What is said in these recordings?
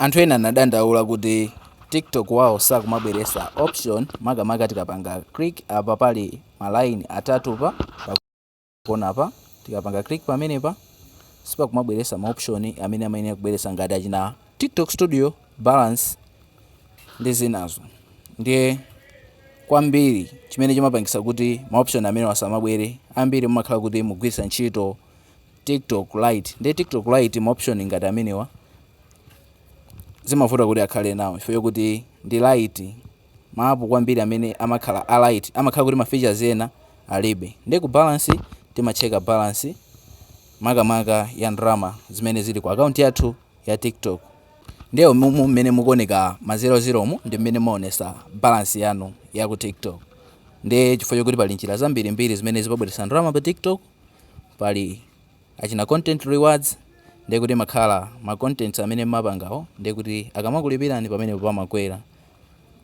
Anthu ena anadandaula kuti tiktok wao sakumabweresa option makamaka tikapanga click apa pali ma line atatu pakonapa tikapanga click pamenepa sipakumabweresa ma option amene amayenera kubweresa ngati achina tiktok studio, balance ndi zinazo ndiye kwambiri chimene chimapangisa kuti ma option amenewa asamabwere ambiri mumakhala kuti mukugwiritsa ntchito tiktok lite ndiye tiktok lite ma option ngati amenewa zimavuta kuti akhale nawo chifukwa chokuti ndi lite ma app kwambiri amene amakhala a lite amakhala kuti ma features ena alibe ndiye ku balance timacheka balance makamaka ya ndalama zimene zili ku akaunti yathu ya tiktok ndiye mumu mmene mukuoneka ma 00 mu ndi mmene mumaonesa balance yanu ya ku tiktok ndi chifukwa chokuti pali njira zambirimbiri zimene zimabweretsa ndalama pa tiktok pali achina content rewards ndiye kuti mmakhala ma contents amene mmapangawo ndiye kuti akamakulipirani pamenepo pamakwera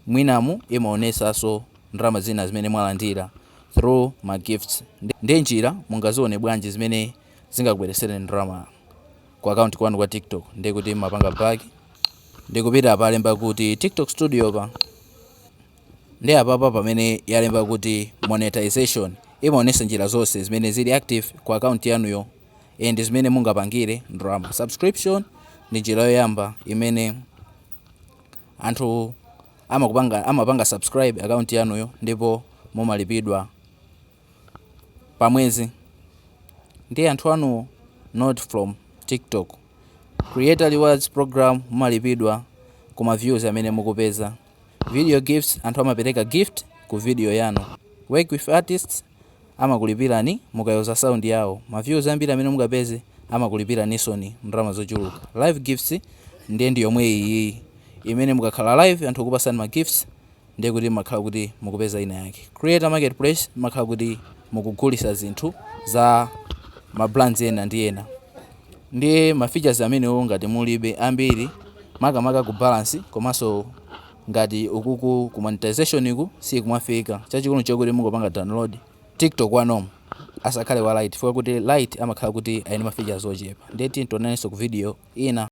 mwinamu imaonesaso ndalama zina zimene mwalandira through ma gifts ndiye njira mungazione bwanji zimene zingakubweresereni ndalama ku account kwanu kwa tiktok ndiye kuti mmapanga back ndikupita palemba kuti tiktok studio pa Ndiye apapa pamene yalemba kuti monetization imaonesa njira zonse zimene zili active ku account yanuyo and zimene mungapangire ndalama. Subscription ndi njira yoyamba imene anthu amapanga subscribe account yanuyo ndipo mumalipidwa pa mwezi ndi anthu anuwo not from tiktok. Creator rewards program mumalipidwa ku ma views amene mukupeza. Video gifts Anthu amapereka gift ku video yanu. Work with artists Amakulipirani mukayuza sound yawo. Ma views ambiri amene mukapeze amakulipiraninsoni ndalama zochuluka. Live gifts Ndiye ndi yomwe iyiyi. Imene mukakhala live anthu akupasani ma gifts ndiye kuti mmakhala kuti mukupeza ina yake. Creator marketplace Mmakhala kuti mukugulisa zinthu za ma brands ena ndi ena. Ndiye ma features amenewo ngati mulibe ambiri makamaka ku balance komanso ngati ukuku ku monetization ku sikumafika chachikulu nchokuti mungopanga download tiktok wa normal asakhale wa lite chifukwa kuti lite amakhala kuti ali ndi ma features ochepa ndiye tiyeni tionanenso ku video ina.